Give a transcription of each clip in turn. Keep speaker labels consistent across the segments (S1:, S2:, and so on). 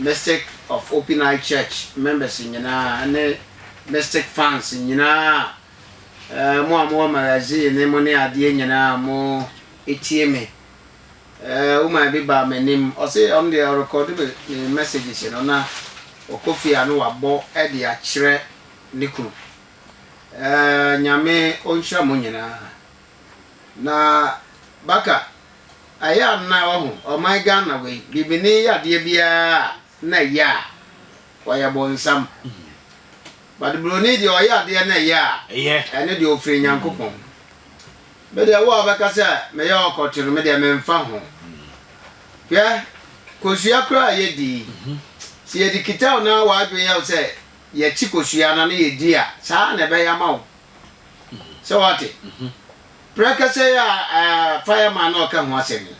S1: Mystic of Open Eye Church members nyinaa ne Mystic fans nyinaa, eh, mo a mowɔ magazine ne mo ne adeɛ nyinaa a mo tie me. Eh, woman bi baa m'anim, ɔse ɔno deɛ ɔrekɔde me me messages no na ɔkɔ fie a na wabɔ de akyerɛ ne kunu. Eh, Nyame ɔnhyira mo nyinaa. Na Baka, Ayɛ a na wahu ɔman Ghana wei bibini yɛ adeɛ biara a na ɛyɛ a ɔyɛ bonsam but broni deɛ ɔyɛ adeɛ na ɛyɛ a ɛne deɛ ɔfiri Nyankopɔn me deɛ wo a wobɛka sɛ meyɛ ɔkɔto no me deɛ memfa ho hwɛ kosua koraa yɛdi sɛ yɛde kita wo na w'adwene yɛ wo sɛ yɛkyi kosua na ne yɛdi a saa na ɛbɛyɛ ama wo sɛ wate Prɛkɛsɛ yi a fireman no reka ho asɛm yi,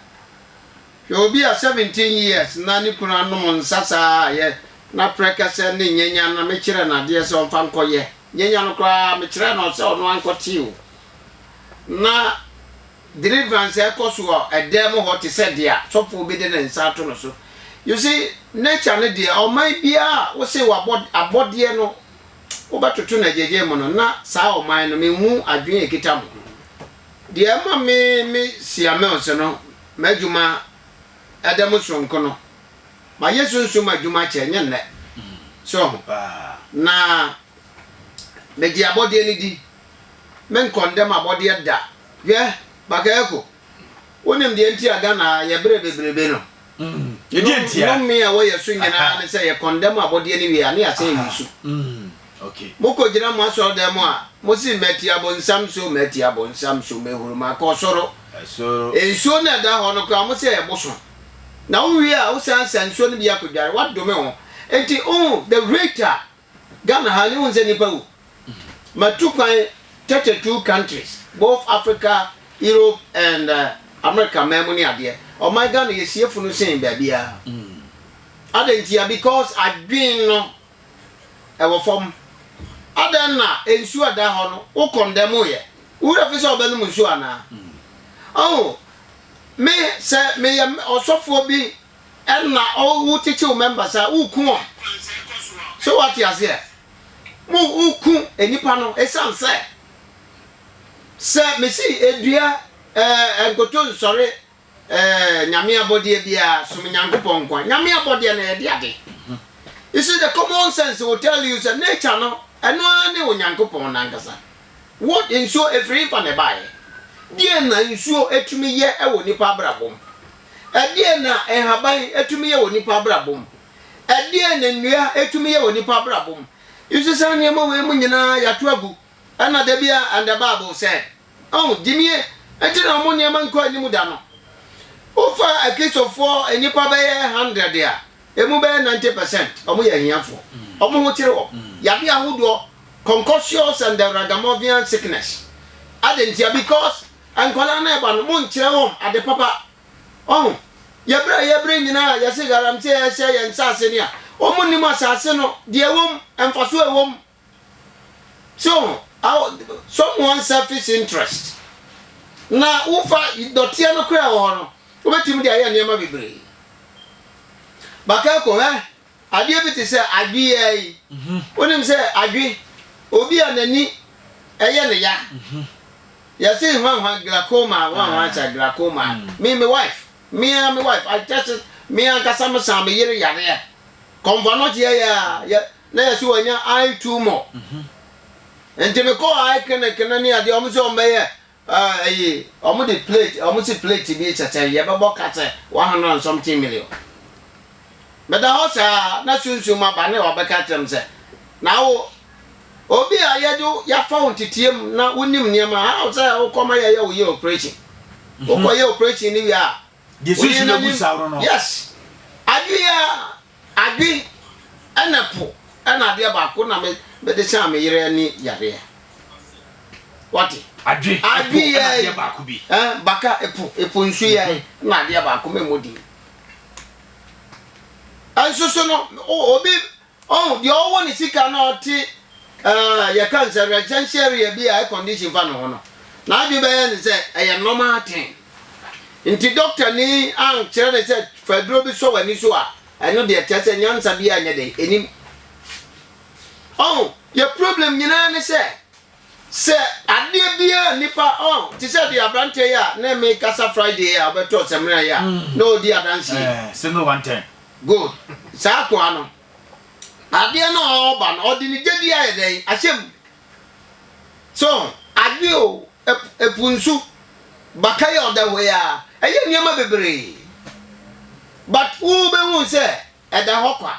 S1: hwɛ obi a 17 years na ne kunu anom nsa saa a yɛ na prɛkɛsɛ ne nyanyan na mekyerɛɛ no adeɛ sɛ ɔmfa nkɔyɛ nyanyan no koraa mekyerɛɛ no sɛ ɔno ankɔte o na deliverance ɛkɔ so wɔ ɛdan mu hɔ te sɛ deɛ sɔfoɔ bi de ne nsa ato no so you see nature no deɛ ɔman biara wose wabɔ abɔdeɛ no wobɛtoto no agyagya mu no, na saa ɔman no, menhu adwene a ɛkita mo. Deɛ ɛma me me Siamels no m'adwuma ɛda mu sononko no, mayɛ sunsum adwuma kyɛ, nyɛ nnɛ. So ho? Na megye abɔdeɛ no di. Me nkɔndɛm abɔdeɛ da. Hwɛ, Bakayoko, wonim deɛ nti a Ghana yɛbrɛ bebrebe no?
S2: Nnome a ɛwɔ yɛn so
S1: nyinaa ne sɛ yɛkɔndɛm abɔdeɛ no wie a na yɛasan ayi so.
S2: Mokɔgyina mo
S1: asɔredan mu a, mose, Mati abonsam so, mati abonsam so, mahuru, makɔ soro. Nsuo no a ɛda hɔ no koraa, mose ɛboso. Na wowie a, wosan sa nsuo no bi akɔdware. Woadome wo ho. Enti, oh, the rate a Ghana ha no wohu sɛ nipa wu matu kwan thirty two countries both Africa Europe and America man mu ne adeɛ ɔman Ghana yɛ sie funu sen baabiara adɛn ntia because adwen no ɛwɔ fam adɛn na nsuo a da hɔ no wo kɔndɛm yɛ wura fi sɛ ɔbɛnom nsuo anaa ɔho me sɛ meyɛ ɔsɔfoɔ bi Ɛna o wo titi wo members a wo ku wɔn so wa te aseɛ mo wo ku enipa no esan sɛ sɛ me si edua ɛɛ nkoto nsɔre ɛɛ nyame abɔdeɛ bia som nyankopɔn nkoa nyame abɔdeɛ na yɛde ade you see the common sense will tell you sɛ nature no ɛno ara ne onyankopɔn nankasa. Wo de, nsuo firi hefa na ɛbaeɛ? Deɛn na nsuo tumi yɛ wɔ nnipa abrabɔ mu? Ɛdeɛn na nhaban tumi yɛ wɔ nnipa abrabɔ mu? Ɛdeɛn na nnua tumi yɛ wɔ nnipa abrabɔ mu? You see, saa nneɛma wei mu nyinaa yɛato agu. Ɛna da bi a, and the Bible said. Ɔho, gyimie, nti na wɔn nneɛma nkɔ anim da no. Wofa Akristofoɔ nnipa bɛyɛ hundred a. Emu bɛyɛ ninety percent wɔyɛ ahiafoɔ. Wɔn ho kyere wɔn. Yadeɛ ahodoɔ, concussious and the ragamuffin sickness. Adɛn ntia? Because nkwadaa no reba no, monkyerɛ wɔn ade papa. Ɔho, yɛberɛ a yɛbrɛ nyinaa yɛse galamsey ɛhyɛ yɛn nsaase no a, wɔn nnim asaase no, deɛ ɛwɔ mu, mfasoɔ a ɛwɔ mu. So ho? Aw someone selfish interest. Na wofa dɔteɛ no koraa wɔ hɔ no, wobɛtumi de ayɛ nneɛma bebree. Bakako, hwɛ adeɛ bi te sɛ adwe yi ara yi. Wonim sɛ adwe, obi a n'ani ɛyɛ ne ya, yɛse hwanhwa glaucoma, hwanhwa sɛ glaucoma. Me, me wife, me ara me wife, I tested, me ankasa mesaa me yere yareɛ. Kɔmfɔnɔteɛ yɛ a, yɛ Na yɛse wanya eye tumor nti mekɔɔ eye clinic no ne adeɛ ɔmo se ɔmo bɛyɛ eh, ɛyi ɔmo de plate ɔmo se plate bi kyɛ sɛn yɛbɛbɔ ka sɛ one hundred and something million meda hɔ saa na sunsum aba ne ɔbɛka kyerɛ me sɛ na wo obi a yɛde wo- yɛafa wo nteteɛ mu na wonim nneɛma how sɛ wokɔma yɛyɛ wo yɛ operation wokɔyɛ operation no wie a Woyi no gu
S2: saa no no. Yes.
S1: Adwene yi ara, adwene ɛna po ɛna adeɛ baako na me mede saa me yere ne yareɛ. Wate? Adwene,
S2: adwene ɛpo, ɛna adeɛ baako bi. Eh, baka ɛpo,
S1: ɛpo nsu yɛ mm-hmm. na adeɛ baako mɛmɔ din. Ɛnso so no, obi Ɔn, deɛ ɔwɔ ne sika na ɔte eh, yɛka no sɛ residential area bi a air condition fa ne ho no, n'adwene bɛyɛ ne sɛ ɛyɛ normal thing. Nti dɔktani ankyerɛ no sɛ fa aduro bi sɔ w'ani so a, ɛno deɛ kyerɛ sɛ nyansa biara nyɛ dɛn, ɛnim. Ɔn, yɛ problem nyinaa ne sɛ. Sɛ adeɛ biara a nnipa, oh, te sɛ deɛ aberanteɛ yi a na mekasa Friday yi a ɔbɛtɔɔ samina yi a na ɔredi adanseɛ yi. Ɛɛ, sɛ no one ten.
S2: Good.
S1: Saa akoa no, adeɛ no a ɔreba no, ɔde ne gyedie ayɛ dɛn? Ahyɛ mu. So, adwe o, ɛp, ɛpo nsu, baka yi a ɔda hɔ yi ara, ɛyɛ nneɛma bebree. But wobɛhu sɛ ɛda hɔ kwa.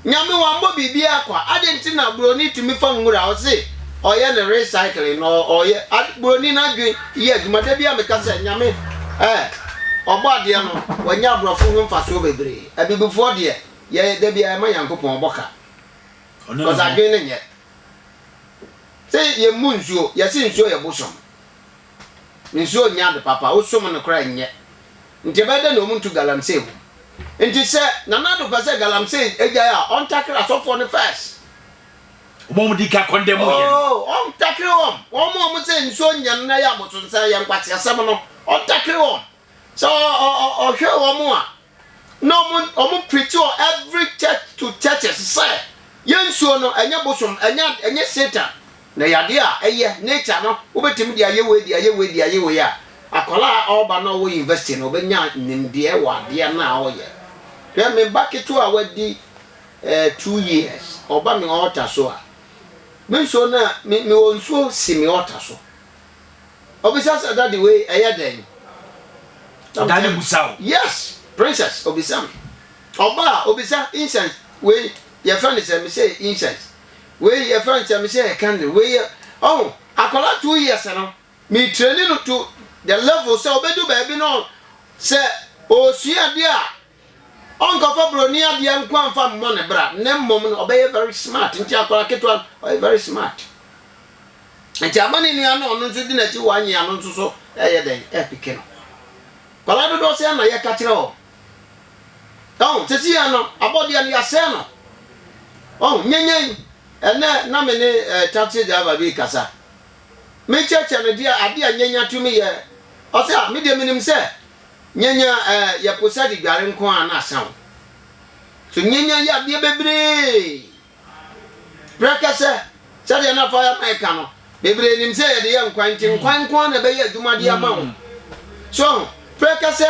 S1: Nyame wambɔ biribiara kwa, adɛn nti na broni tumi fa nwura a ɔse ɔyɛ no recycling no ɔyɛ, ade, broni no adwen yɛ adwuma, da biara meka sɛ Nyame eh, ɔbɔ adeɛ no wanya aborɔfo ho mfasoɔ bebree, abibifoɔ deɛ yɛ, da biara yɛma Nyankopɔn ɔbɔ ka, Ɔno ne cause ho. adwen no nyɛ. Se yɛmmu nsuo, yɛse nsuo yɛ bosom. Nsuo nyɛ ade papa, wosom no koraa ɛnyɛ. Nti ɛbɛyɛ dɛn na wɔn ntu galamsey wom? Nti sɛ Nana Addo pɛ sɛ galamsey ɛgyae a, ɔntakere asɔfoɔ no first. Wɔn a
S2: wɔn di kan condemn yɛ no. Oh, ɔntakere wɔn.
S1: Wɔn a wɔn sɛ nsuo nyɛ no na ɛyɛ abosonsan, ɛyɛ nkwaseasɛm no, ɔntakere wɔn. Sɛ ɔhwɛ wɔn a. Na ɔmo ɔmo preachi wɔ every church to churches sɛ yɛ nsuo no ɛnyɛ bosom ɛnyɛ ɛnyɛ Satan na yade a ɛyɛ nature no wobɛtumi de ayɛ wei de ayɛ wei de ayɛ wei a akwadaa a ɔba na ɔwɔ university no ɔbɛnya nimdeɛ wɔ adeɛ no a ɔyɛ hwɛ me ba ketewa a wadi eh, two years ɔba me altar so a me nsuo no a me mewɔ nsuo si me altar so. Obisa sɛ daddy wei ɛyɛ dɛn?
S2: Daddy busa wo? Yes princess
S1: obisa me. Ɔba a obisa incense wei yɛfrɛ no sɛ me sɛ incense wei yɛfrɛ no sɛ me sɛ candle wei yɛ ɔho akwadaa two years no me training no to the level sɛ obedu baabi no sɛ osua adeɛ a Ɔnkɔfa broni adeɛ nko a nfa mmɔ ne bra ne mmom no ɔbɛyɛ very smart nti akwadaa ketewa no ɔyɛ very smart nti ama ne nua no ɔno nso di n'akyi wɔ anyi ano nso so ɛyɛ dɛn ɛpeke no kwadaa dodoɔ sɛ na yɛka kyerɛ wɔn ɔn sisi yɛ no abɔdeɛ no yɛasɛɛ no ɔn nyanyan ɛnɛ na me ne eh, taxi driver bi kasa mekyɛkyɛ no deɛ adeɛ a nyanya tumi yɛ ɔsɛ a medeɛ menim sɛ Nyanya a yɛpo sɛ de dware nko ara na asa wo. So nyanya yɛ adeɛ bebree. Prɛkɛsɛ, sɛdeɛ na Fireman reka no, bebree nim sɛ yɛde yɛ nkwan nti nkwan nko ara na ɛbɛyɛ adwuma de ama wo. So prɛkɛsɛ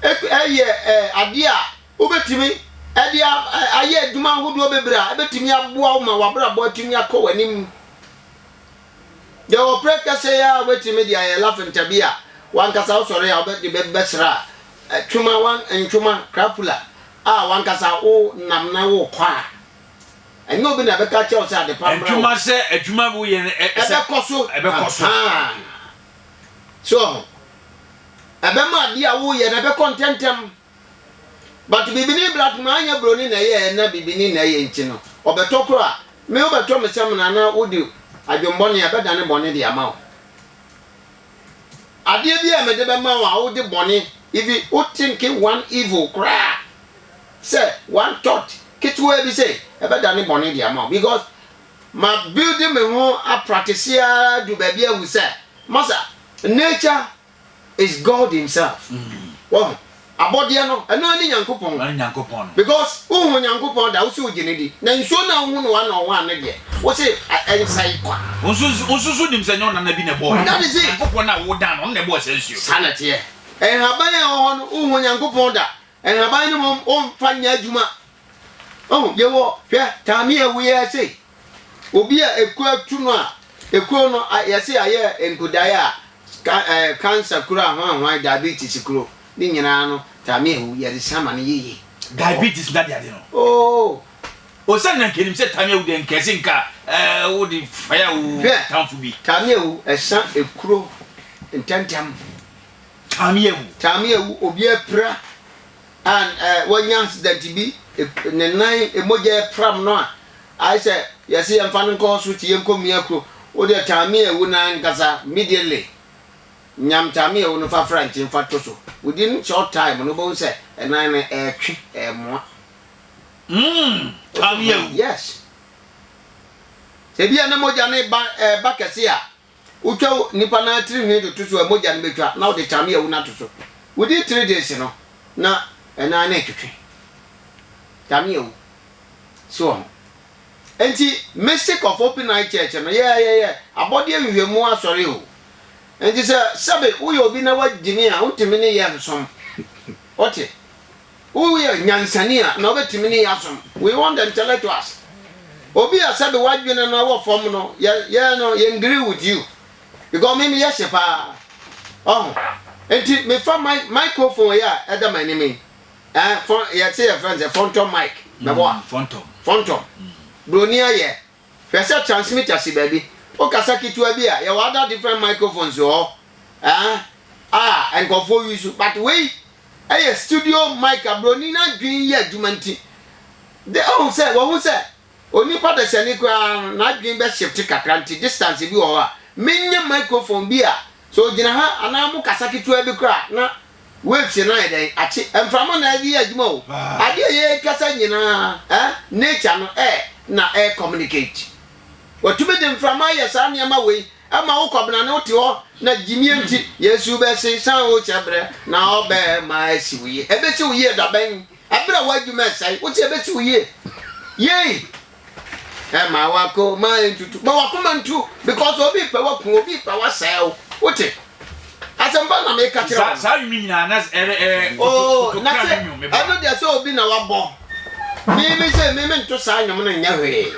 S1: yɛ adeɛ a wobɛtumi de ayɛ adwuma ahodoɔ bebree a ɛbɛtumi aboa wo ma w'abrabɔ atumi akɔ w'anim. Yɛwɔ pere kɛse yi ara a wobɛtumi de ayɛ lafinta bi a w'ankasa wosɔre a wobɛde bɛbɛsra twoma wan ntwoma crapula a w'ankasa wo nam na wokɔ a ɛnyɛ obi na ɛbɛka kyerɛ wo sɛ adepa mmra wo. Ntwoma sɛ adwuma
S2: bi woyɛ no ɛsɛ. Ɛbɛkɔ so. Ɛbɛkɔ
S1: so. So ɛbɛma adeɛ a woyɛ no ɛbɛkɔ ntɛntɛm. But bibini bra tma anyɛ broni na ɛyɛɛ na bibini na ɛyɛ nti no ɔbɛtɔ koro a me wobɛtɔ me samina na wode adwenbɔne a ɛbɛdane bɔne de ama wo adeɛ bi a mede bɛma wo a wode bɔne ivi wo think one evil koraa sɛ one thought ketewaa bi sɛ ɛbɛdane bɔne de ama wo because ma build me ho aprate seara du baabi ahu sɛ masa nature is God himself wɔho abɔdeɛ no ɛno ne Nyankopɔn because wohu Nyankopɔn da wose wogye ne di na nsuo no a wohu no one on one no deɛ wose ɛnsɛe kwa wosusu nim
S2: sɛ nyɛ ɔnana bi na ɛbɔɔ Nyankopɔn no a
S1: wodan no ɔno na
S2: ɛbɔɔ saa nsuo saa na teɛ
S1: nhaban a ɛwɔ hɔ no wohu Nyankopɔn da nhaban no mom womfa nyɛ adwuma ɔhu yɛwɔ hwɛ taame a ɛwɔ yɛ sei Obi a ekuo atu no a, ekuo no yɛsi ayɛ nkudaeɛ a ɛɛ cancer kuro ahoanhoan diabetes kuro ne nyinaa no tame awu yɛde san ma no yiye. Diabetes na de
S2: ade no. Oo.
S1: Osan na
S2: nkenim sɛ tame awu de nkɛse nka ɛɛ wo de faya wo tamfo bi. Tame awu ɛsan
S1: ekuro ntɛntɛm.
S2: Tame awu. Tame awu
S1: obi apira. a wanya accident bi, ne nan mogya ɛpram no a, ayɛ sɛ yɛse yɛmfa no nkɔ hospital yɛnkɔ mia kuro, wo deɛ taame awu no ankasa immediately, nyam taame awu no fa fra nkyen fa to so, within short time no wobɛhu sɛ ɛnan no ɛretwe, ɛremoa. Hmm,
S2: taame awu. Yes.
S1: Sɛ ebia na mogya no reba, ɛreba kɛse a, Wotwa onipa no ara tiri nhwi de to so a, mogya no bɛtwa, na wode tamea wu no ato so. Wodi tiri de se no, na ɛno ara ne retwetwe tamea wu so wɔ ho. Enti, Mystic of Hopi Nile Church no, yɛ, yɛ, yɛ abɔdeɛ nhwehwɛmu asɔre o. Enti sɛ, sɛbe, woyɛ obi na woagyimi a, wontumi ne yɛn nsom. Wote? Woyɛ nyansani a, na wobɛtumi ne yɛn asom. We want the intellectuals. Obi a sɛbe w'adwene no wɔ fam no, yɛ, yɛ no, yɛn agree with you. Because me meyɛ hye paa. Ɔho. Enti, mefa my, microphone yi a ɛda m'anim yi. Eh, fon, yɛte yɛ friends, fɔntɔm mic. Mɛboa. Mm, fɔntɔm. Fɔntɔm. Mm. Broni ayɛ. Hwɛ sɛ transmitter si baabi. Wo kasa ketewa bi a, yɛwɔ other different microphones wɔ hɔ eh, a nkurɔfoɔ use, but wei ɛyɛ studio mic a broni no adwene yɛ adwuma nti, de oh sɛ wahu sɛ onipa dasani koraa no n'adwene bɛ shift kakra nti distance bi wɔ hɔ a, menya microphone bi a sɛ ɔgyina ha anaa mo kasa ketewa bi koraa na Waves no ayɛ dɛn akye mframa na ɛde yɛ adwuma o, adeɛ a yɛrekasa nyinaa eh, nature no eh na ɛre communicate. Watumi de mframa ayɛ saa nneɛma wei ma wo Kwabena ne wo te hɔ na gyimie nti Yesu bɛse san wo kyɛ berɛ na ɔbɛma asi wo yie. Ɛbɛsi wo yie dabɛn? Ɛberɛ a w'adwuma ɛsɛe, wo se ɛbɛsi wo yie? Yei! ɛma wakoma ntutu ma wakoma ntu because obi pɛ waku obi pɛ wasɛe wo wote asɛmpa na meka kyerɛ wo saa nnwom nyinaa na
S2: ɛrɛ ɛrɛ oh
S1: na sɛ ɛno deɛ sɛ obi na wabɔ mimi sɛ mimi nto saa nnwom no nyɛ hwee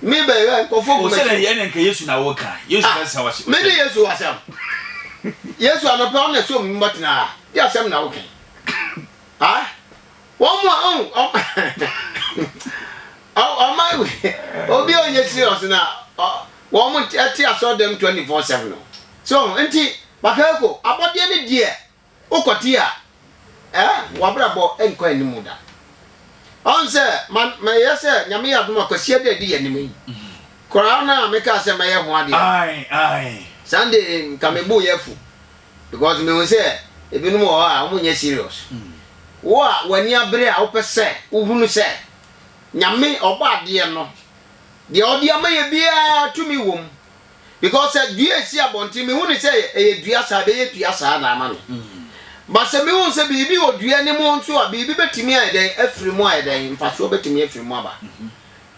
S1: mi bɛ yɛ nkɔfo kuma sɛ yɛ ne nka yesu
S2: na wɔka yesu ah, bɛ sa wɔhyɛ mi ne yesu asɛm
S1: yesu anɔpɛ ɔna sɛ omi mɔtena yɛ asɛm na wɔka ah Wɔn mu a oh ɔma ɔma obi a ɔnyɛ serious na wɔn ɛte asɔɔdɛm twenty four seven no so nti bakayoko abɔdeɛ ne deɛ okɔte a ɛɛ eh, wabrabɔ nkɔ anim da ɔn sɛ ma ma yɛ sɛ nyame yɛ adoma kwasia dɛ di yɛ anim yi koraa na meka sɛ mɛyɛ ho adeɛ
S2: Sunday nka
S1: mebu yɛ fu Because mehu sɛ ebinom wɔ hɔ a wɔn nyɛ serious. Wo a w'ani abere a wopɛ sɛ wohunu sɛ Nyame ɔbɔ adeɛ no deɛ ɔde ama yɛ biara tumi wɔ mu. Because sɛ dua esi abɔnten mehu no sɛ ɛyɛ dua saa ɛbɛyɛ dua saa na ama me. But sɛ mehu sɛ biribi wɔ dua no mu nso a biribi bɛtumi ayɛ dɛn afiri mu ayɛ dɛn mfasoɔ bɛtumi afiri mu aba.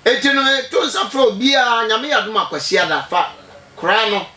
S1: Enti no meto nsa frɛ obiara Nyame yɛ adom a Kwasiada fa kora no.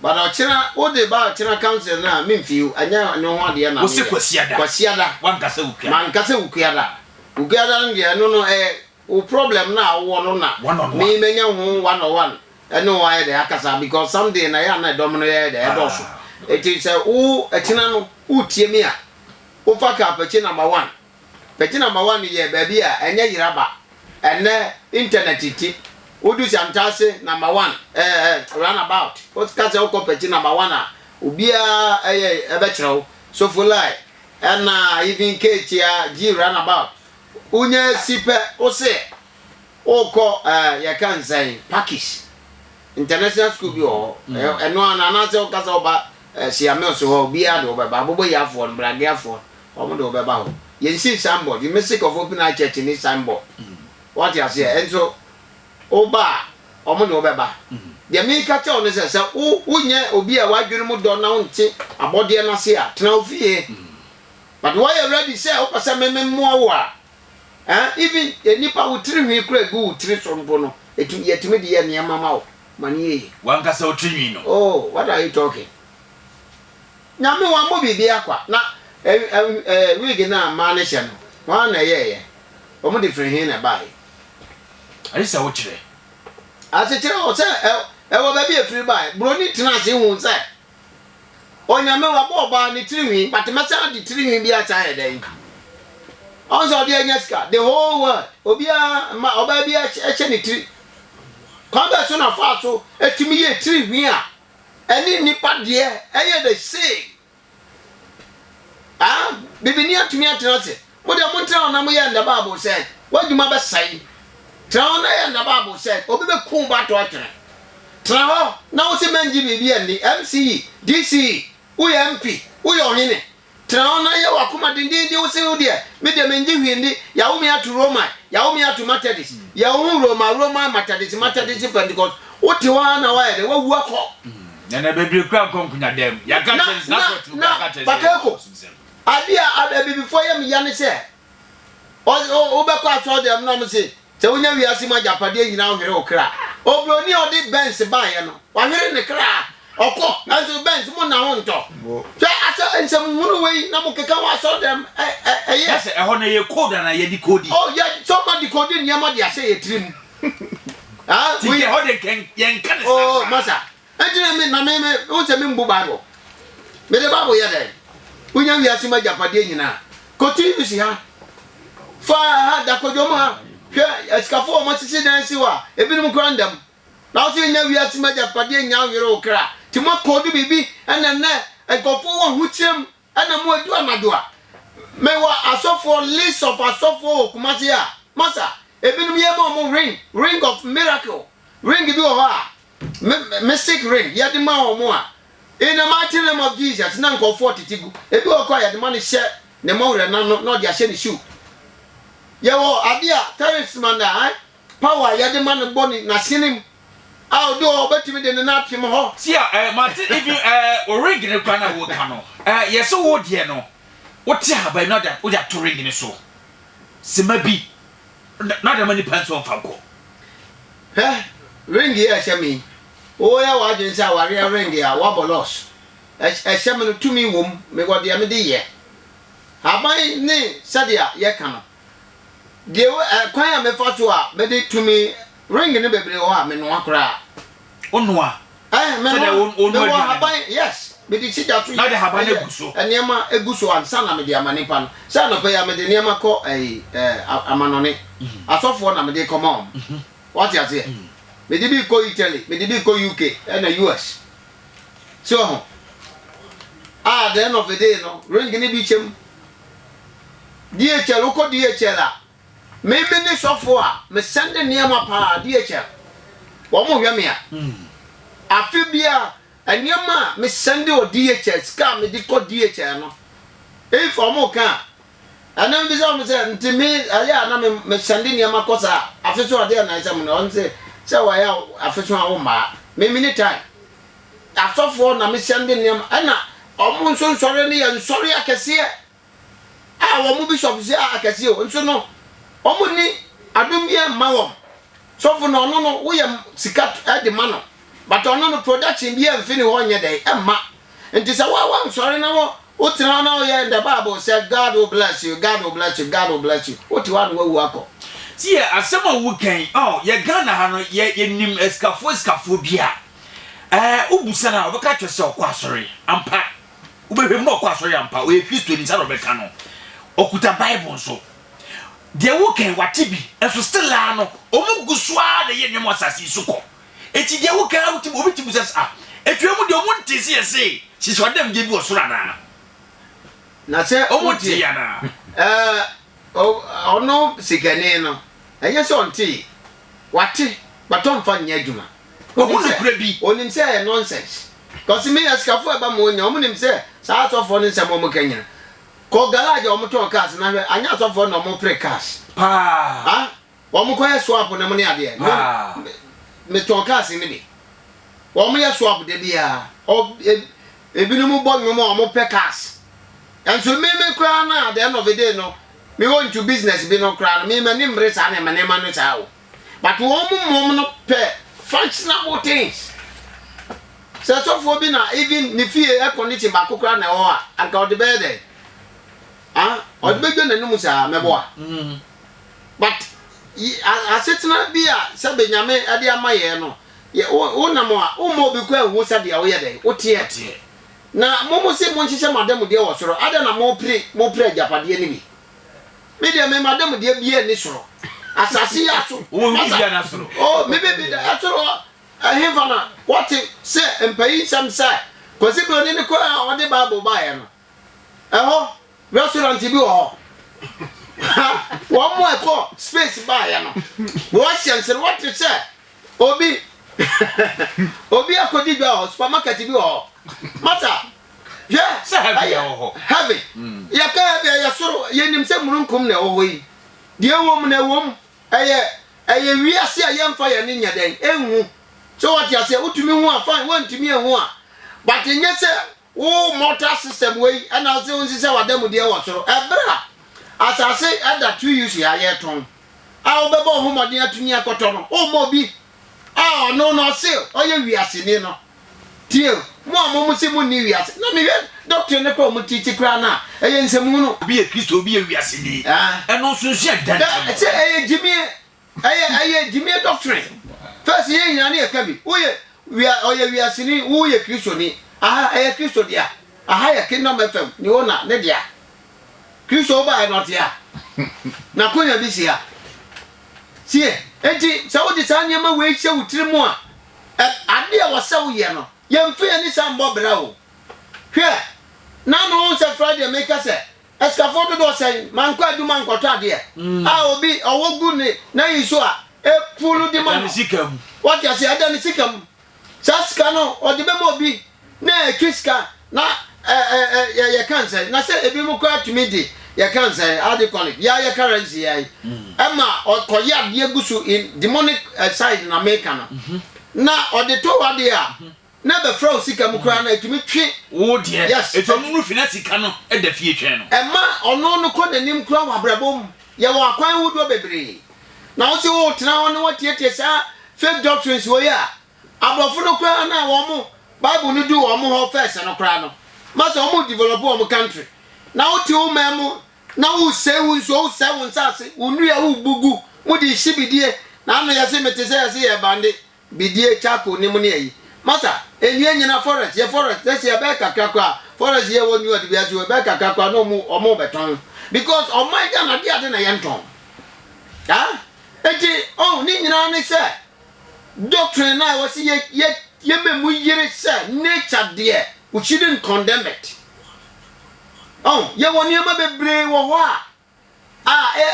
S1: But ɔkyena wo de ba ɔkyena council no a me feel ɛnyɛ ɛno ho adeɛ na me yɛ. Wo se Kwasiada. Kwasiada.
S2: Wa nka sɛ Wukuada. Ma nka sɛ Wukuada.
S1: Wukuada no deɛ ɛno no ɛyɛ wo problem no a wo wɔ no na me mɛ nya ho one on one ɛne wo ayɛ dɛ akasa because some day na yɛ a na ɛdɔm no yɛ dɛ ɛdɔ so. Ɛti sɛ wo ɛkyena no wo tie me a wo fa ka apɛkye number one. Bɛgyina Mawa no yɛ baabi a ɛnyɛ yeraba. Ɛnnɛ internet nti, wodu Santase number one eh, eh, roundabout, woka sɛ wokɔ Pɛkyi number one a, obiara ɛyɛ ɛbɛkyerɛ wo. Sofolai, ɛna even Keekyea, G roundabout. Wonya si pɛ, wose wokɔ eh, yɛka no sɛn, Pakis. International school bi wɔ hɔ. Ɛ- Ɛno ara no, anaasɛ woka sɛ woba eh, Siamills hɔ a, obiara de wobɛba. Aboboyafoɔ no, Brageafoɔ no, Wɔn de wɔbɛba hɔ. Yɛn sii sign board. You may sick of open eye church ne sign board. Wate aseɛ? Nso wo ba a, wɔn de wɔbɛba. Deɛ meka kyerɛ wo ne sɛ, sɛ wo wonyɛ obi a w'adwene mu dɔ na wonte abɔdeɛ no ase a, tena wo fie. But woayɛ ready sɛ wopɛ sɛ me me mmoa wo a, eh, even nnipa wo tiri nhwi koraa gu wo tiri so mpo no, ɛtumi yɛtumi de yɛ nneɛma ma wo. Ma no yɛ yie. W'ankasa wo tiri nhwi
S2: no. Oh, what are you talking?
S1: Nyame wambo biribiara kwa na ɛɛ wig no a mmaa no hyɛ no hwan na ɛyɛɛyɛ? Wɔn de firi he na ɛbaeɛ? Ɛsɛ
S2: sɛ wokyerɛ. Ase kyerɛ
S1: wɔn sɛ ɛwɔ baabi a ɛfiri baeɛ. Buroni tena ase huu sɛ Onyame wabɔ ɔbaa no tiri nhwi but mɛsan ade tiri nhwi bi asan ayɛ dɛn? Ɔhu sɛ ɔde anya sika. The whole world obiara mma ɔbaa biara hyɛ ne tiri. Kwan bɛn so na ɔfaa so tumi yɛɛ tiri nhwi a Ɛne nnipa deɛ ɛyɛ the same ah bibini atumi atena ase mo deɛ mo ntena hɔ na mo yɛ ndɛ bible sɛ w'adwuma bɛsɛe tena hɔ na yɛ ndɛ bible sɛ obi bɛku ba to atwene tena hɔ na wo se mɛngye biribi ɛndi mce dce woyɛ mp woyɛ ɔhene Tena hɔ na yɛ w'akoma dendeenden wo se wo deɛ, me deɛ mennye hwee nni, yɛawo me ato Roman, yɛawo me ato Methodist, yɛwo ho Roma, Roman, Methodist, Methodist, Pentecost, wote hɔ ara na woayɛ dɛn, woawu akɔ. Nana bebree
S2: kura nkɔ nkonyadaa mu. Yɛaka akyerɛ no sɛ, n'asɔɔte mu koraa aka akyerɛ no sɛ yɛnyɛ
S1: Abakɔsomsɛm. Adeɛ a Abibifoɔ yɛ me ya ne sɛ, Ɔse o wobɛkɔ asɔɔdɛm no na ɔmo se sɛ wonya wiase mu agyapadeɛ nyinaa wohwere wo kra. Obroni a ɔde Benz baeɛ no wahwere ne kra ɔkɔ nso Benz mo na ho ntɔ. Hwɛ asɛ nsɛm hunu wei na mo keka ho asɔɔdɛm ɛyɛ. Na sɛ ɛhɔ
S2: no ɛyɛ code anaa yɛ decode. Oh yɛ sɛ ɔma
S1: decode nneɛma de ahyɛ yɛ tiri mu. Ti deɛ ɛhɔ deɛ
S2: yɛnka ne saa koraa. Oh masa
S1: Ɛnkyɛrɛ me na me me wohu sɛ membu Bible. Mede Bible yɛ dɛn? Wonya wiase mu agyapadeɛ nyinaa. Kɔ TUC ha, fa ha, da kwadwom ha, hwɛ asikafoɔ a wɔasisi dan asi hɔ a ebinom koraa nda mu. Na wo sɛ wonya wiase mu agyapadeɛ nnya nwere wo kra. Nti moakɔdu biribi na nnɛ nkurɔfoɔ wɔ ahokyerɛ mu Ɛna mu edu anadwo a, me wɔ asɔfoɔ list of asɔfoɔ wɔ Kumasi a, masa, ebinom yɛ ma wɔn ring, ring of miracle, ring bi wɔ hɔ a, me, mystic ring, yɛde ma wɔn a, in the mighty name of Jesus, na nkorɔfoɔ tete gu, ebi wɔ hɔ koraa yɛde ma no hyɛ ne mɔwerɛ no ano na ɔde ahyɛ ne shoe. Yɛwɔ adeɛ a, talisman a, Power a yɛde ma no bɔ ne n'asenem a odi hɔ obetumi de ne nan apem hɔ. See a eh mate
S2: even eh wo ring no kura na woka no eh yɛse wo deɛ no wote ahaban no ada wode ato ring no so sema bi na dama nipa nso ɔmfa nkɔ. Hwɛ
S1: ring yi a ɛhyɛ me yi woyɛ w'adwene sɛ awareɛ ring a woabɔ loss ɛhyɛ me no tumi wom mewɔ deɛ mede yɛ haban ne sɛdeɛ yɛka no. Deɛ wo ɛ kwan a mefa so a mede tumi ring no bebree wɔ hɔ a menoa koraa. Wonoa?
S2: Ɛɛ menoa. Mewɔ
S1: ahaban yes mede si gya so yɛ ɛyɛ
S2: nneɛma egu so ansa
S1: na mede ama nipa no sɛ anɔpa yi a mede nneɛma kɔ ɛyi ɛɛ amanɔne asɔfoɔ na mede kɔma wɔn wate aseɛ mede bi kɔ Italy mede bi kɔ UK ɛna US so ho a the end of the day no ring ne bi kyɛm. DHL wokɔ DHL a me me ne sɔfo a me sɛnde nneɛma paa DHL wɔn hwɛ me a afe bia nneɛma a me sɛnde wɔ DHL sika a me de kɔ DHL no if wɔn ka a ɛna me bisa wɔn sɛ nti me ɛyɛ a na me me sɛnde nneɛma kɔ saa afe so adeɛ na ɛsɛ mo na wɔn sɛ sɛ wɔyɛ afe so a wɔn maa me me ne time. Asɔfoɔ na mehyɛ no de nneɛma, ɛna wɔn nso nsɔre no yɛ nsɔre akɛseɛ a wɔn bishops yɛ akɛseɛ o, nso no wɔn ni adom bi mma wɔn. Sɔfo no ɔno no woyɛ sika de ma no, but ɔno no production bi mfi ne hɔ nyɛ dɛ ɛmma. Nti sɛ wa wa nsɔre na wo wo tena hɔ na woyɛ in the Bible sɛ God will bless you, God will bless you, God will bless you, wote hɔ a na wawu akɔ. Tie asɛm
S2: a woka yi, oh yɛ Ghana ha no yɛ yɛnim asikafoɔ asikafoɔ bi a. Eh, wobisa no a, ɔbɛka akyerɛ sɛ ɔkɔ asɔre. Ampa, wobɛhwɛ mu na ɔkɔ asɔre ampa. Ɔyɛ Kristoni, saa na ɔbɛka no. Ɔkuta Bible nso. Deɛ wokan wate bi, nso still ara no, wɔn gu so ara na ɛyɛ nneɛma asase yi so kɔ. Eti deɛ wokan ara wotumi, obi tumi sɛ sɛ, ah, atwa mu deɛ wɔn nte sɛ yɛse hyehyɛ ɔdamgye bi wɔ soro anaa? Na
S1: sɛ wɔn nte yɛ anaa?
S2: Eh,
S1: ɔno sikani no, ɛnyɛ sɛ ɔntee. Wate but ɔmfa nyɛ adwuma. Wahu nokorɛ bi.
S2: Onim sɛ ɛyɛ nonsense.
S1: Cause me asikafoɔ a ɛba ma wɔnya wɔn nim sɛ saa asɔfoɔ no nsɛm a wɔn ka nyina. Kɔ garage a wɔn tɔn cars na hwɛ anyɛ asɔfoɔ na wɔn pre cars. Paa. Ah
S2: wɔn
S1: kɔ yɛ swap nom ne adeɛ. Me me me tɔn cars no bi. Wɔn yɛ swap da biara. Ɔ eb ebinom bɔ nnwom a wɔn pɛ cars. Nso me me koraa no a the end of the day no Me hɔ ntu business bi no koraa no me m'ani mmere saa nneɛma nneɛma no saa o but wɔn mu mmom no pɛ functionable things sɛ sɔfoɔ bi na even ne fie air condition baako koraa na ɛwɔ hɔ a anka ɔde bɛyɛ dɛ ah ɔde bɛdwa n'anum saa mɛboa mm-hmm. but asetena bi a sɛ benyame ɛde ama yɛ no wonam a woma obi kɔ ehu sɛdeɛ woyɛ dɛ woteɛ Na mo mo se monhyehyɛ mo adanmudeɛ wɔ soro, adɛn na mopere mopere agyapadeɛ no bi? Me deɛ me m'adanmudeɛ biara nni soro, asase yi aso, Wowɔ obi masa, biara na soro.
S2: oh, me me me da
S1: ɛsoro hɔ, ɛhefa na wɔte sɛ mpayinsɛm sɛ Kwasi Broni ne kwan a ɔde Bible baeɛ no, ɛhɔ. Restaurant bi wɔ hɔ. Wɔn a ɛkɔ space baayɛ no, wɔhyɛ nserewa te sɛ obi obi akɔdi dwa wɔ hɔ. Supermarket bi wɔ hɔ. Masa, hwɛ sɛ ɛyɛ
S2: heaven. Mm.
S1: Yɛka heaven ɛyɛ soro, yɛnim sɛ mununkum na ɛwɔ hɔ yi. Deɛ ɛwɔ mu na ɛwɔ mu. Ɛyɛ ɛyɛ wiase a yɛmfa yɛn ne nyɛ dɛn, ɛnhu. So wɔte aseɛ, wotumi hu a fine, wɔntumi ɛhu a. But nyɛ sɛ Wo mortal system wei na wo se wo nsesɛ w'adamudeɛ wɔ soro. Ɛberɛ a asase da two UC ha yɛretɔn a wo bɛbɔ wo ho mmɔden atumi akɔtɔ no, wo mma obi a ɔno no ɔse ɔyɛ wiaseni no. Tie o, mo a mo mo se mo nni wiase, na mehwɛ doctrine no koraa a ɔmo teache koraa no a, ɛyɛ nsɛmhunu. Obi yɛ Kristo, obi yɛ
S2: wiaseni, ɛno nso nsua dɛn? Sɛ ɛyɛ gyimie
S1: Ɛyɛ ɛyɛ gyimie doctrine first yɛn nyinaa ne ɛka bi woyɛ wia ɔyɛ wiaseni wo yɛ kristoni aha ɛyɛ kristo dea aha yɛ kingdom fm ne ona ne dea kristo wo ba ɛnɔte ha na konya bi si ha sie enti sɛ wode saa nneɛma wei hyɛ wo tiri mu a ade a wɔsɛ wo yɛ no yɛmfa yɛn ne saa mbɔ bra o hwɛ na no sɛ friday meka sɛ Asikafo dodoɔ sɛn ma nkɔ adwuma nkɔtɔ adeɛ a obi ɔwɔ gu ne nan yi so a ɛfu no de ma no? Wate
S2: aseɛ? Ɛda ne
S1: sika mu. Saa sika no ɔde bɛma obi na ɛtwe sika na ɛ ɛ ɛ yɛka ne sɛn? Na sɛ ebinom koraa tumi de yɛka ne sɛn? How do you call it? Yɛa yɛ currency yɛa yi ɛma ɔkɔyɛ adeɛ gu so in demonic side na meka no na ɔde tɔ w'adeɛ a Na ɛbɛfra wo sika mu koraa na ɛtumi twe. Wo deɛ. Yes.
S2: Enti ɔno no fi na
S1: sika no
S2: da fie twɛn no. Ɛma ɔno no kɔ
S1: n'anim koraa wɔ abrabɔ mu. Yɛwɔ akwan hodoɔ bebree. Na wo se woretena hɔ na woatietie saa fake doctrines wei a, aborɔfo no koraa no a wɔn Bible no duu wɔn hɔ first no koraa no, ma sɛ wɔn develop wɔn country. Na wote wo man mu na woresɛe wo nsuo, woresɛe wo nsaase, wo nnua a worebu gu mu de rehye bidie, na ano yɛse mete sɛ yɛse yɛrebande Bidie, Charcoal, ne mu ne ayi. Masa, ɛnni anyina forest yɛ forest na sɛ ɛbɛyɛ kakra koraa forest yɛ wɔ new ade biara so ɛbɛyɛ kakra koraa na ɔmo ɔmo bɛtɔn because ɔman Ghana ade ade na yɛntɔn ah eti oh ne nyinaa ne sɛ doctrine na ɛwɔ se yɛ yɛ yɛ mɛ mu yere sɛ nature deɛ we shouldn't condemn it oh yɛ wɔ nneɛma bebree wɔ hɔ a a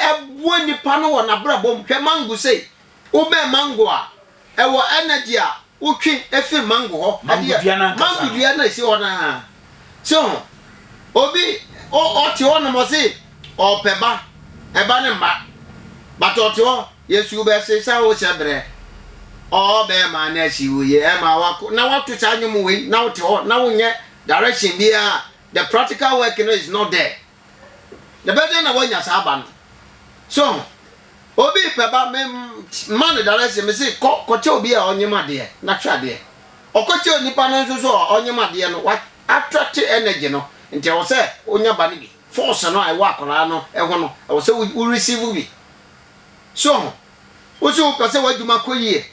S1: ɛboa nnipa no wɔ n'abrabɔ mu. Hwɛ mango sei. Wobɛn mango a, ɛwɔ energy a wotwe firi mango hɔ. Mango dua no ankasa no. Mango dua no a ɛsi hɔ no ara. So ho? Obi, ɔte hɔ nom ɔse ɔpɛ ba, ɛba no mma. But ɔte hɔ, Yesu wobɛse sɛ wohyɛ berɛ. Ɔɔ bɛɛma no asi wo yie, ɛma wako. Na woato saa nnwom wei na wote hɔ na wonyɛ direction biara a, the practical work no is not there. Ɛbɛyɛ dɛn na woanya saa ba no? So ho? Obi repɛ ba, mema no direction, mese kɔ kɔkyɛ obi a ɔnyem adeɛ na hwɛ adeɛ. Ɔkɔkyɛ onipa no nso so a ɔnyem adeɛ no, woattracte energy no, nti ɛwɔ sɛ wonya ba no bi. Force no a ɛwɔ akwadaa no ho no, ɛwɔ sɛ wo receive bi. So ho? Wo se wopɛ sɛ w'adwuma kɔ yie.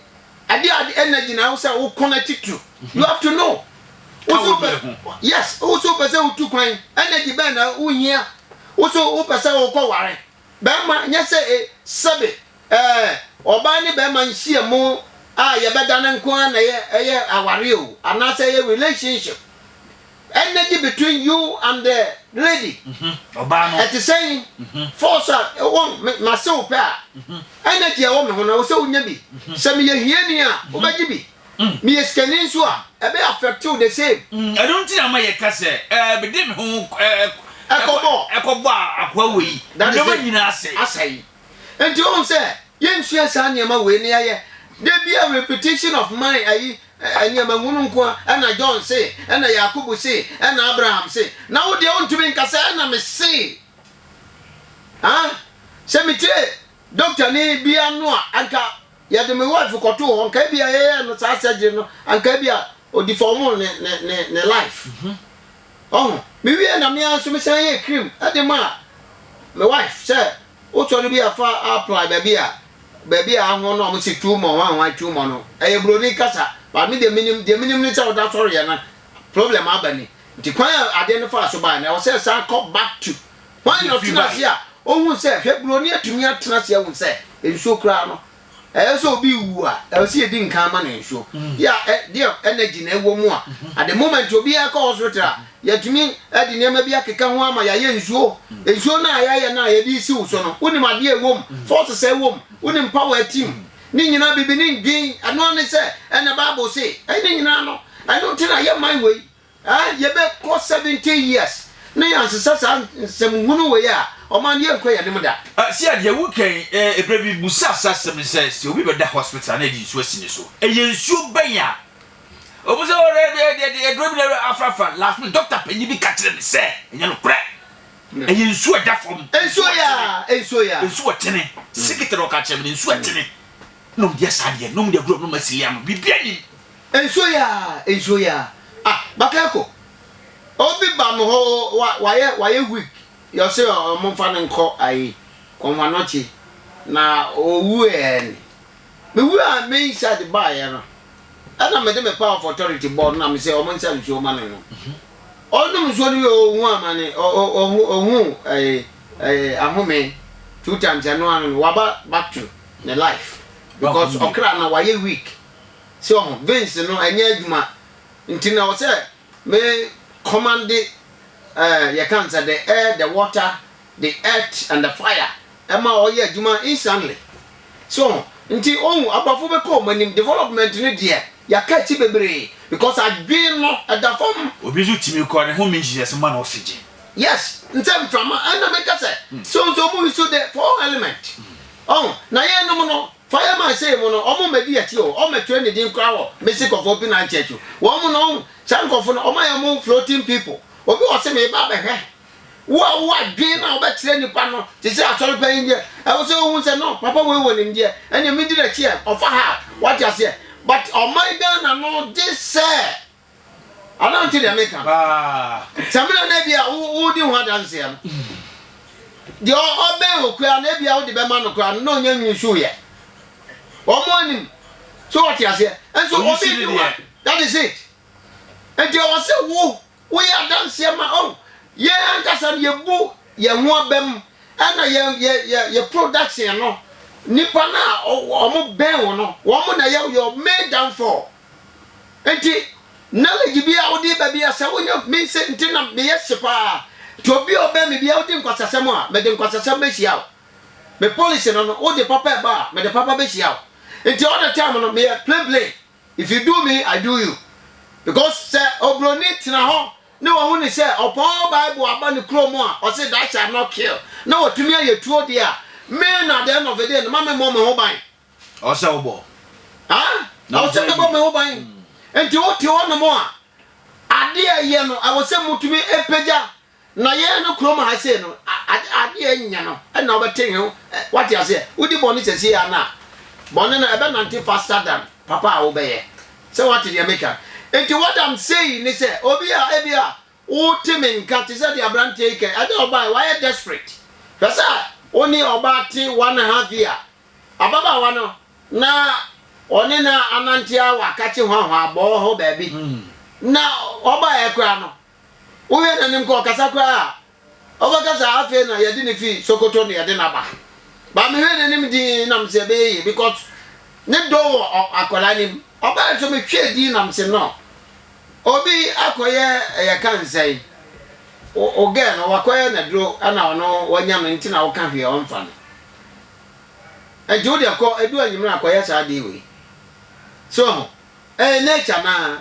S1: Adeɛ a ɛde energy na ɛwɔ sɛ wokɔ no atitiriw. You have to know. Ka Wo se wo wopɛ deɛ ho. Yes, wo se wopɛ sɛ wotu kwan. Energy bɛn na wohia? Wo se wopɛ sɛ wokɔ ware. Barima, nyɛ sɛ e, sɛbe, ɛɛ, ɔbaa ne barima nhyiamu a yɛbɛda no nko ara na ɛyɛ ɛyɛ awareɛ o, anaasɛ ɛyɛ relationship. Ɛnna gye between you and the lady. Ɔbaa no.
S2: Ɛte sɛn?
S1: Force a ɛwɔ me mase wo pɛ a, energy a ɛwɔ me ho no, ɛwɔ sɛ wunya bi. Sɛ meyɛ hiani a, wobɛgye bi. Meyɛ sikani nso a, ɛbɛyɛ affect wo the same. Ɛno nti na ma
S2: yɛka sɛ, ɛɛ, mede me ho ɛɛ, Ɛkɔbɔ. ɛkɔbɔ akoa wei, nneɛma nyinaa asɛe.
S1: Asɛe.
S2: Enti wohu
S1: sɛ yensua saa nneɛma wei na yɛayɛ da biara repetition of mind ayi nneɛma hunu nko a ɛna John se ɛna Yakubu se ɛna Abraham se na wo deɛ wontumi nka sɛ ɛna me se ah sɛ metie doctor ni bi ano a anka yɛde me wife kɔtoo hɔ nka bi a yɛyɛ no saa surgery no anka bi a ɔdi fam ne ne ne life mm -hmm. Ɔho. Me wie na me ara nso me san yɛ cream de maa me wife sɛ wo sɔre bi a fa apply baabi a baabi a ahoɔ no a wɔn se too mɔ wɔn ahoɔ too mɔ no ɛyɛ broni kasa but me deɛ me nim deɛ me nim ne sɛ ɔda sɔre yɛ no problem aba ni nti kwan a adeɛ no faa so baa no ɛwɔ sɛ san kɔ back to wɔn na ɔtena ase a ohun sɛ hwɛ broni atumi atena ase ahun sɛ nsuo koraa no Ɛyɛ sɛ obi rewu a, ɛwɔ sɛ yɛdi nkan ma no nsuo. Yɛ a, deɛ energy na ɛwɔ mu a, at the moment obiara rekɔ hospital a, yɛtumi de nneɛma bi akeka ho ama yɛayɛ nsuo. Nsuo no a yɛayɛ no a yɛde resi wo so no, wonim adeɛ a ɛwɔ mu, forces a ɛwɔ mu, wonim power a ɛte mu. Ne nyinaa biribi ne ndwen. Ɛno ara ne sɛ, ɛnna Bible se, ɛne nyinaa no, ɛno nti na yɛman wei. Aa yɛbɛ kɔ seventy years na yɛn sesa saa nsɛm hunu wei a ɔman no yɛn kɔ yɛn anim da. Sia deɛ wo kan
S2: ɛberɛ bi busaa saa asɛm no sɛ sɛ obi bɛda hospital a na yɛde nsuo asi ne so ɛyɛ nsuo bɛn a ɔmo sɛ ɔrɛ ɛde ɛde ɛde aduro bi na afra afra last minute doctor panyin bi ka kyerɛ me sɛ ɛnyɛ no korɛ ɛyɛ nsuo ɛda fam nsuo yaa nsuo yaa nsuo ɛtene sikiti na ɔka kyerɛ me no nsuo ɛtene Nom deɛ saa deɛ nom deɛ gulɔ nom asili ano biribi anim. Nsuo yi aa
S1: nsuo yi aa ah Bakayoko obi ba me hɔ wa wayɛ wayɛ week yɛ ɔse ɔmo nfa no nkɔ ayi Kɔnhwanochi na owu ɛɛ ne me wu aa me inside baa yɛ no ɛna me de me power of authority bɔɔ no na me se ɔmo nsa nsuo ma no nom ɔnom nsuo no wie ohu amane ɔ ɔ ɔhu ɔhu ɛɛ ɛɛ ahome two times ɛno ano no waba back to. Ne life because ɔkra na wayɛ weak sɛ ɔho veins no ɛnyɛ adwuma nti na ɔsɛ me commande eh, yɛ kan sɛ the air the water the earth and the fire ɛma ɔyɛ adwuma instantly sɛ ɔho nti ɔho abrɔfo bɛkɔ ɔmo anim development no deɛ yɛaka akyi bebree because adwen no ɛda fam. Obi nso tumi kɔ ne
S2: home nhyehyɛse ma no oxygen. Yes, nsɛ
S1: mframa ɛna meka sɛ hmm. so nso ɔmo nso the four element Ɔn, na yeinom no, fa yɛ ma sei mo no, ɔmo mmɛdi yɛakyi o, ɔmo mmɛtwerɛ ne din koraa wɔ Mystic of Opinine Church o, wɔn mo no, ɔn, saa nkorɔfoɔ no, ɔmo ayɛ ɔmo own floating people, obi wɔ se meeba abɛhwɛ wo a wowɔ adwen a wobɛkyerɛ nnipa no te sɛ asɔre panyin deɛ, ɛwɔ sɛ wohu sɛ no, papa wei wɔ nimdeɛ, ɛnneɛ mendi n'akyi ɛ, ɔfa ha a, woate aseɛ, but ɔman Ghana no gye sɛ Anaa nte deɛ meka no? Sɛ mena na ebia wodi ho adanseɛ no, deɛ ɔbɛn wo koraa na ebia wode bɛma no koraa no na ɔnya nwini so yɛ. Wɔn anim. So wɔte aseɛ? Nso obi di wa. That is it. Nti ɛwɔ sɛ wo woyɛ adanseɛ ma oh yɛn ankasa no yɛbu yɛn ho abam ɛna yɛ yɛ yɛ yɛ production no nipa no a wɔn bɛn wo no wɔn na yɛ your main downfall. Nti knowledge bi a wode ba bi a sɛ wonya me sɛ nti na meyɛ hye paa nti obi a ɔbɛn me bia wodi nkwasasɛm a mede nkwasasɛm bɛhyia wo me policy no no wode papa ɛba a mede papa bɛhyia wo nti all the time no meyɛ plain plain if you do me I do you because sɛ obroni tena hɔ ne wahu ne sɛ ɔpɔn bible aba ne kurom a ɔse that shall not kill na watumi ayɛ tuo deɛ a me na the end of the day no ma me mmɔ me ho ban Ɔsɛ wobɔ.
S2: Ah,
S1: ɔsɛ mɛbɔ me ho ban. Nti wote hɔ nom a, adeɛ a ɛyɛ no, ɛwɔ sɛ motumi pagya na yɛn no kurom ha sei no, adeɛ nyɛ no, ɛna wobɛte he ho, wate aseɛ, wodi bɔne sɛsie a na bɔne no ɛbɛnante faster than papa a wobɛyɛ. Sɛ wate deɛ meka. Nti what I'm saying ne sɛ, obi a ebi a Wote me nka te sɛ deɛ aberanteɛ yi kae. Ɛdeɛ ɔbaa yi, wayɛ desperate. Hwɛ sɛ wo ne ɔbaa te one and half year. Ababaawa no, na ɔne no anante ara wɔ akakye hwahwaa bɔɔ hɔ baabi. Na ɔbaeɛ koraa no, wohwɛ n'anim koraa ɔkasa koraa a, ɔbɛka sɛ afei na yɛde no fi Sokoto na yɛde no aba. But mehwɛ n'anim dinn na mese ɛbɛyɛ yie because ne dɔ wɔ akwadaa no mu. Ɔbaa yi nso mehwɛɛ dinn na mese no. Obi akɔyɛ yɛka no sɛn wo wo girl no wakɔyɛ no aduro ɛna ɔno wanya no nti na woka hwee ɔmfa no nti wo deɛ kɔ edu anyimire akɔyɛ saa adeɛ wei so ho ɛyɛ nature naa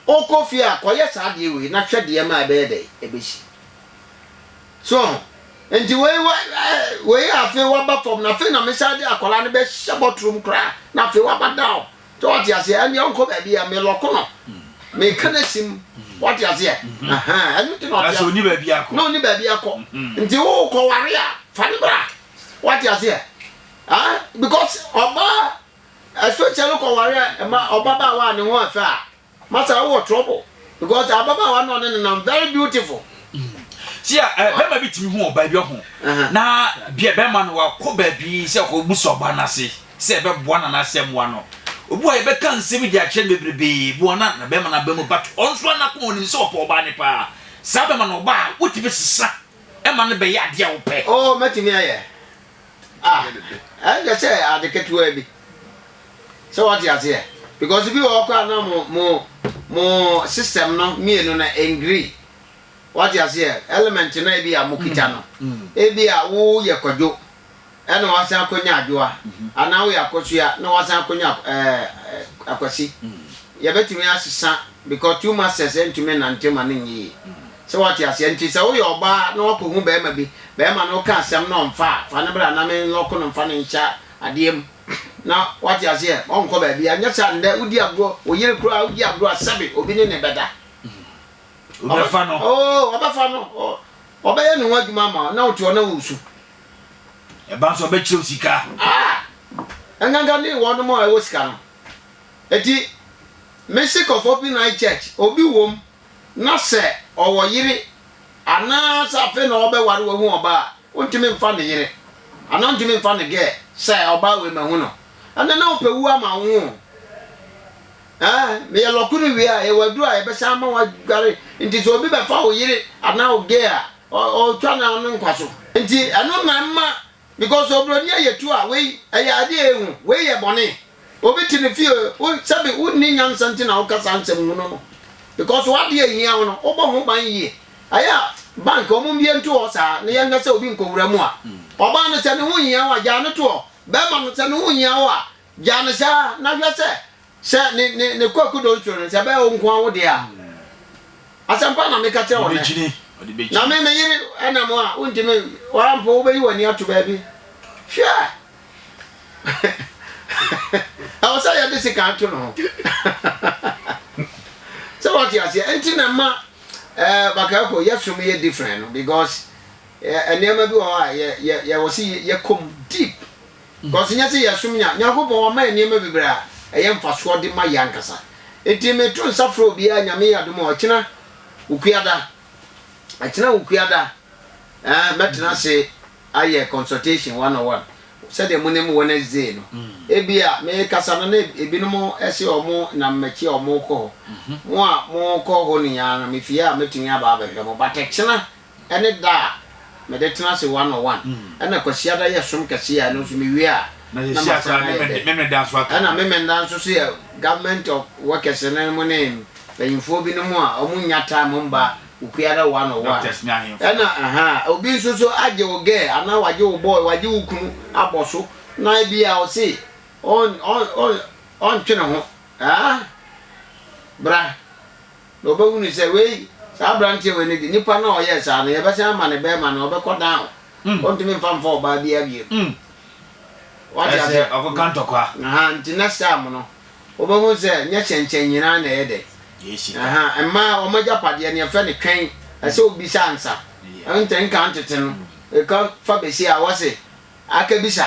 S1: wokɔ fie a kɔyɛ saa adeɛ wei na hwɛ deɛ ma ɛbɛyɛ dɛ ɛbɛsi so ho nti wei wa wei afei waba fam na afei na mesa de akwadaa no bɛhyɛ bɔtrom koraa na afei waba down Sɛ wate aseɛ ɛne ɔnkɔ baabi a melɔko no meka no asim wate aseɛ ɛno nti na ɔte ɔni baabi akɔ na ɔni
S2: baabi akɔ
S1: nti wo kɔware a fa no bra wate aseɛ because ɔbaa especially kɔware a ɛma ɔbabaawa a ne ho afɛ a Master wo wɔ trouble because ababaawa no ɔne ne nam very beautiful. si a
S2: eh, bɛrima bi tumi hu ɔbaa bi ɔho na bia bɛrima no wakɔ baabi sɛ ɔkɔ busa ɔbaa no ase sɛ ɛbɛboa no anaasɛ mmoa no obi a yɛbɛka nsɛm bi de akyerɛ no bebrebee boa no na bɛrima no aba mu but ɔnso anakoma ɔnim sɛ ɔpɛ ɔbaa ne paa saa bɛrima no ɔbaa wotumi sesa ɛma no bɛyɛ adeɛ a wopɛ oh mɛtumi ayɛ
S1: A, ɛnyɛ sɛ ade ketewaa bi. Sɛ wate aseɛ? Because bi wɔ hɔ koraa na mo, mo, mo system no mmienu no ɛngri. Wate aseɛ? Element no a ebi a mo kita no, ebi a woyɛ kwadwo ɛna wasan akɔnya adwoa, anaa woyɛ akosua na wasan akɔnya ɛɛ akwasi. Yɛbɛtumi asesa because two masters ɛntumi nnante ma no nyɛ yie. Sɛ wate aseɛ? Nti sɛ woyɛ ɔbaa na wakɔhu barima bi, barima no ka asɛm na ɔmfa a, fa no bra na me lɔko no mfa no nhyɛ adeɛ mu na wate aseɛ, ɔnkɔ baabiara. Nyɛ saa nnɛ wodi agorɔ, wo yere koraa wodi agorɔ a sɛbe obi ne no bɛda.
S2: Wobɛfa no? Oo, wɔbɛfa no.
S1: Ɔbɛyɛ ne ho adwuma ama wo na wote hɔ na woresu.
S2: Ɛba nso ɔbɛkyerɛ wo sika.
S1: Ah! Nkanka ne wɔnom a ɛwɔ sika no. Enti, mese kɔ Fopi Night Church, obi wom na sɛ ɔwɔ yere anaa sɛ afei na ɔbɛware wahu ɔbaa a, ontumi mfa ne yere anaa ontumi mfa ne girl sɛ ɔbaa wei mahu no. Ɛnɛ na wopɛ wu ama wo ho o. Ɛɛ, meyɛ lɔko no wie a, yɛwɔ aduru a yɛbɛsan ama woadware. Nti sɛ obi bɛfa wo yere anaa wo girl a, ɔretwa no ano nkwa so. Nti ɛno na ɛma Because obroni ɛyɛ tu a wei ɛyɛ adeɛ ehu wei yɛ bɔne obi te ne fie wo sɛbi wo nni nyansa nti na wo ka saa nsɛm hunu no because w'adeɛ ehia wo no wo bɔ ho ban yie ɛyɛ a bank ɔmo mbie nto hɔ saa na yɛn hwɛ sɛ obi nkowura mu a ɔbaa no sɛ ne ho nhia wo a gyaa no to hɔ bɛɛma no sɛ ne ho nhia wo a Gya no saa na hwɛ sɛ sɛ ne ne ne kɔ akudo nturo no sɛ ɛbɛyɛ wo nko ara wo deɛ a. Asɛmpa na meka kyerɛ wo nnɛ. Na me me yere ɛna mu a wontumi wara mpo wobɛyi w'ani ato baabi. Hwɛ! Ɛwɔ sɛ yɛde sekan to ne ho. Sɛ wate aseɛ nti na ɛma ɛɛ eh, Bakayoko yɛsom yɛ different no because eh, nneɛma bi wɔ hɔ a yɛ yɛ yɛwɔ sɛ yɛkɔ mu deep. Because nyɛ sɛ yɛsom nya, Nyankopɔn wama yɛn nneɛma bebree a ɛyɛ mfasoɔ de ma yɛn ankasa. Enti me to nsa frɛ obiara Nyame yɛ adom a ɔkyena wo kuada, ɛkyena wo kuada eh, mɛtena ase ayɛ consultation one on one sɛdeɛ mo nim Wednesday no. Ebia me kasa no na ebinom se wɔn nam m'akyi a wɔn rekɔ hɔ. Mo a mo kɔ hɔ nyinaa no, me fie a mɛtumi aba abɛhwɛ mo, but ɛkyena ɛne da a mede tena ase one on one, ɛna Kwasiada yɛ som kɛseɛ a ɛno nso mewie a na masan
S2: ayɛ dɛ, ɛna Memenda nso so yɛ
S1: government of workers no mu ne mpanyinfoɔ bi nom a ɔmo nnya time mba Okuada one on one, ɛna ahaa obi nso so agye wo girl anaa wagye wo boy, wagye wo kunu abɔ so na ebia ɔse ɔn ɔn ɔn ɔntwe ne ho, aah bra. Na wɔbɛhunu sɛ wei, saa aberanteɛ wei no de, nipa no a ɔyɛɛ saa no, yɛbɛsan ama no bɛrima no, ɔbɛkɔ down. Wɔntumi mfa mfa ɔbaa biara bio. Wate aseɛ? Ɛsɛ ɔkɔka ntɔkwa.
S2: Aha, nti next time
S1: no, wɔbɛhunu sɛ nyɛ hyɛnkyɛn nyinaa na ɛyɛ dɛ. Yɛ sika. Aha,
S2: mmaa, wɔn
S1: agyapadeɛ no, yɛfrɛ no twɛn. Ɛsɛ wobisa ansa. Ɛnti nka ntete no, ɛka fa besia a, wɔse, Akabisa.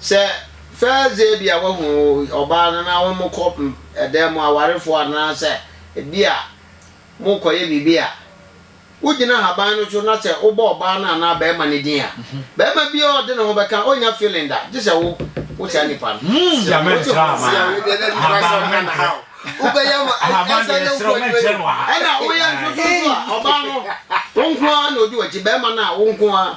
S1: Sɛ fɛɛdze ebia woehu ɔbaa no na hom kɔ dan mu awarfo anaasɛ bia morokɔyɛ biribi a, wogyina haban no so na sɛ wobɔ ɔbaa no anaa barimba no dzin a, barimba biara a ɔdze noho bɛka onnya feeling da gyesɛ wo wo saa nyimpa no. Sɛ wodze wo nsa a woewie na nyimpa no sɛ ɔnnkã no haw
S2: wobɛyɛ ma ankasa na nkwa nnyi
S3: w'enyim. Nna woyɛ nsoso
S1: so a ɔbaa no wo nkoaa na odzi w'ekyir, barimba no a wo nkoaa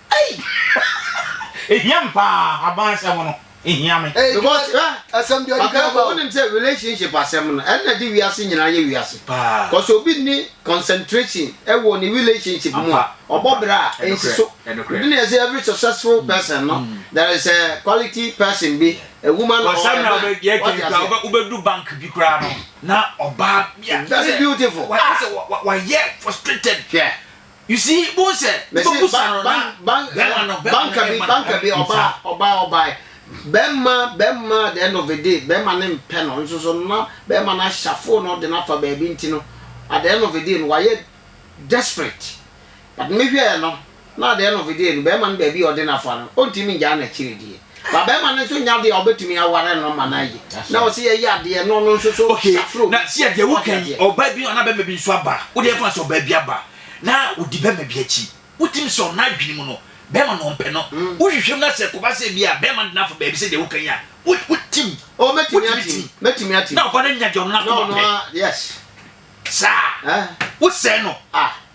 S4: Ei! Ehia me paa, aban asɛm no ehia me. Ei because
S1: hwɛ asɛm bi ɔde Ɔka kura
S3: ba o. wonim sɛ relationship
S1: asɛm no ɛna de wiase nyinaa yɛ wiase. Paa. Cause obi nni concentration ɛwɔ ne relationship mu a Ampa, ɔbɔ ampa. bra a Ɛnokorɛ, ensi so. ɛnokorɛ. Ɛno na yɛse every successful person no there is a quality person bi, a woman or a Ɔsɛm na man. wobɛ yɛ Wate kɛn
S2: kura aseɛ? wobɛ wobɛdu bank bi kura no na ɔbaa bi a Very beautiful. wa- Ah.
S1: sɛ wa- wa- wayɛ
S2: frustrated Hwɛ.
S1: You see, wohu
S2: sɛ Mese wobɛbusa ba no ba
S1: na ba bɛrima no bɛrima banka no bi bɛma no banka bi ɛyɛ ɔbaa nsa. ɔbaa ɔbaa bɛrima bɛrima at the end of the day bɛrima no mpɛ no nso so no na bɛrima no ahyafo no de no afa baabi nti no at the end of the day no wayɛ desperate but mehwɛɛ no na at the end of the day no bɛrima no baabi a ɔde no afa no ɔntumi ngyaa no akyiri deɛ. Ba bɛrima no nso nya adeɛ a ɔbɛtumi aware no ma no ayi. Na ɔsi yɛ yɛ adeɛ no ɔno nso so okay. safro. Na sia
S2: deɛ woka yi ɔbaa bi anaa bɛrima bi nso aba a wode ɛfa sɛ ɔbaa bi aba na ɔdi bɛrima bi akyi. Wotim sɛ ɔno adwene mu no bɛrima no ɔmpɛ no. Wohwehwɛ mu na sɛ ɛkɔba sɛ bi a bɛrima no de no afa baabi sɛ deɛ woka yi a wotim. Oh mɛtumi atim.
S1: Mɛtumi atim. Na ɔba no anya deɛ ɔno
S2: n'akoma pɛ.
S1: Saa.
S2: Wosɛe no. Ah.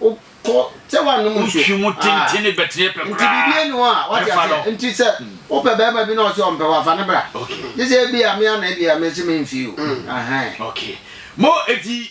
S1: wokɔ sɛ woanom nsuo wotwi mu tenten ne bɛteɛ
S2: pɛ nti biribi ni hɔ a
S1: wate aseɛ nti sɛ hmm. wopɛ bɛrima bi na ɔsɛ ɔmpɛ wafa ne bra gye sɛ ebi a mea na ebi
S2: a
S1: mese memfii o hmm. mo
S2: eti